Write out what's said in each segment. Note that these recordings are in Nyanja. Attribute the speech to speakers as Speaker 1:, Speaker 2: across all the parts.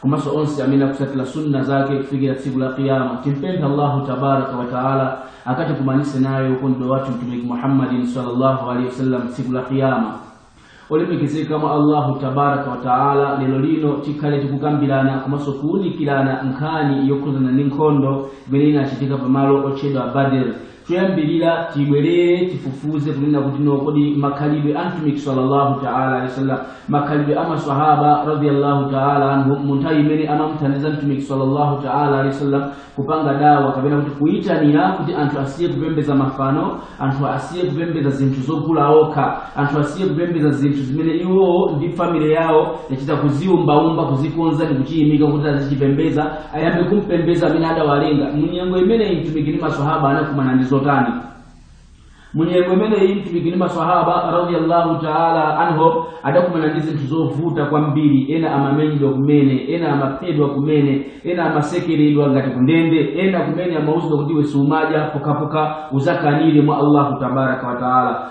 Speaker 1: komanso onse amene akusatira sunna zake kufikira tsiku la kiyama timpempha allahu tabaraka wataala akatikumanise naye wokondedwa wathu mtumiki muhammadin salllahu alehi wasallam tsiku la kiyama olemekezeka mwa allahu tabaraka wataala lero lino tikhale tikukambirana komanso kuwunikirana nkhani yokhuzana ndi nkhondo imene inachitika pamalo otchedwa badr Choyambirira tibwerere tifufuze kunena kuti no kodi makhalidwe a Mtumiki sallallahu ta'ala alaihi wasallam, makhalidwe a masahaba radhiyallahu ta'ala anhum mu nthawi imene amamuthandiza Mtumiki sallallahu ta'ala alaihi wasallam kupanga dawa kapena kuti kuyitanira kuti anthu asiye kupembeza mafano, anthu asiye kupembeza zinthu zogula okha, anthu asiye kupembeza zinthu zimene iwo ndi family yawo yachita kuziumbaumba, kuzikonza ndi kuchiyimika kuti azichipembeza ayambe kumpembeza amene adawalenga munyengo imeneyi mtumiki ndi masahaba anakumana ndi zotani munyengo imeneyi mtumiki ndi masahaba radiallahu taala anhum adakumana ndi zinthu zovuta kwambiri ena amamenyedwa kumene ena amaphedwa kumene ena amasekeredwa ngati kundende ena kumene amauzidwa kuti iwe siumadya pokapoka uzakanire mwa allahu tabaraka wataala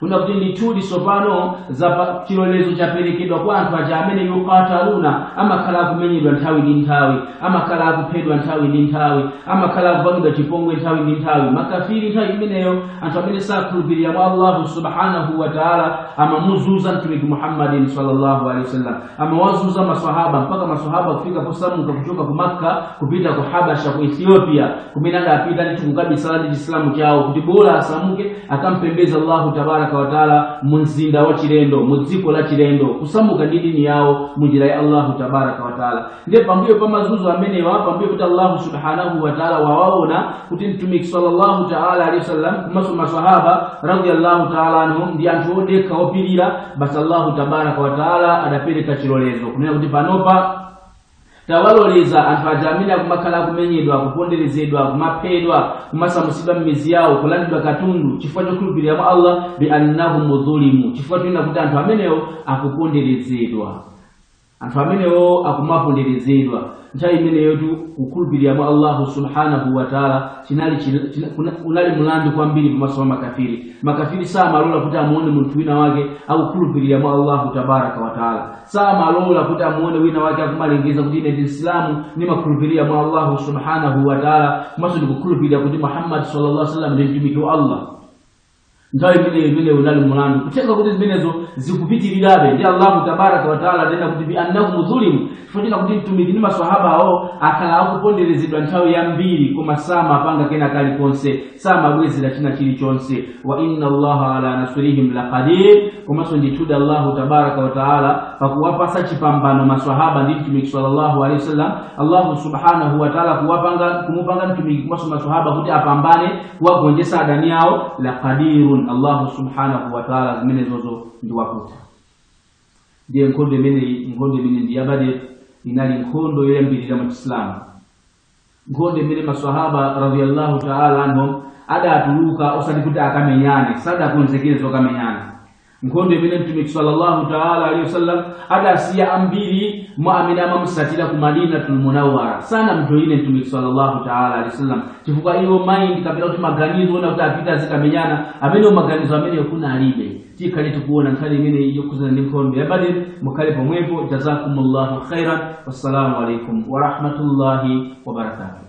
Speaker 1: kuna kuti ndithudi tsopano za chilolezo chaperekedwa kwa anthu aja amene yukataluna amakhala akumenyedwa nthawi ndi nthawi amakhala akuphedwa nthawi ndi nthawi amakhala akupangidwa chipongwe nthawi ndi nthawi makafiri nthawi imeneyo anthu amene sakhulupirira mwa allahu subhanahu wa taala amamuzuza mtumiki muhammadin sallallahu alaihi wasallam amawazuza masahaba mpaka masahaba kufika posamuka kuchoka ku makka kupita ku habasha ku ethiopia kumene adapita ndithu kukabisala ndi chisilamu chawo kuti bola asamuke akampembeza allahu tabaraka wataala mu mzinda wa chilendo mu dziko la chilendo kusamuka ndi dini yawo mu njira ya allahu tabaraka wataala ndiye pambuyo pa mazuzo amenewa pambuyo kuti allahu subhanahu wataala wawaona kuti mtumiki sallallahu taala alehi wasallam komanso masahaba radiallahu taala anhum ndi anthu odekha opirira basi allahu tabaraka wataala adapereka chilolezo kunena kuti panopa tawaloleza anthu aja amene akumakhala akumenyedwa kuponderezedwa kumaphedwa kumasamutsidwa m'mizi yawo kulandidwa katundu chifukwa chokhulupirira mwa allah bi annahum dhulimu chifukwa chonena kuti anthu amenewo akuponderezedwa Anthu amenewo akumaponderezedwa. Nthawi imeneyotu kukhulupirira mwa Allahu subhanahu wa taala chinali chil- china- kuna- unali mlandu kwambiri pamaso pa makafiri. Makafiri samalola kuti amuone munthu wina wake akukhulupirira mwa Allahu tabaraka wa taala, samalola kuti amuone wina wake akumalengeza kuti ine ndi Msilamu ndimakhulupirira mwa Allahu subhanahu wa taala komanso ndikukhulupirira kuti Muhammad sallallahu alaihi wasallam ndi mtumiki wa Allah. nthawi imeneyo imene unali mulandu kutenga kuti zimenezo zikupitirirabe ndi allahu tabaraka wataala adanena kuti bi annahum zulimu chifukwa kuti mtumiki ndi maswahaba awo akhala akuponderezedwa nthawi yambiri koma samapanga kena kalikonse samabwezera china chilichonse wa inna allaha ala nasrihim laqadir komanso ndithudi allahu tabaraka wataala pakuwapatsa chipambano maswahaba ndi mtumiki sallallahu alaihi wasallam allahu subhanahu wataala kuwapanga kumupanga mtumiki komanso maswahaba kuti apambane kuwagonjetsa adani awo la qadirun allahu subhanahu wa taala zimenezozo ndi wakutha ndiye nkhondo imeneyi nkhondo imene ndi ya badr inali nkhondo yoyambirira mu chisilamu nkhondo imene maswahaba radiallahu taala anhum adatuluka osati kuti akamenyane sadakonzekere zokamenyana nkhondo imene mtumiki sallallahu taala alaihi wasallam adasiya ambiri mwa amene amamusatira ku madinatul munawara sanamjoyine mtumiki sallallahu taala alaihi wasallam chifukwa iwo mind kapena kuti maganizo onena kuti apita azikamenyana amenewo maganizo amenewo kunalibe tikhale tikuona nkhani imeneyi yokhudzana ndi nkhondo ya badr mukhale pomwepo jazakumullahu khairan wassalamu alaikum warahmatullahi wabarakatuh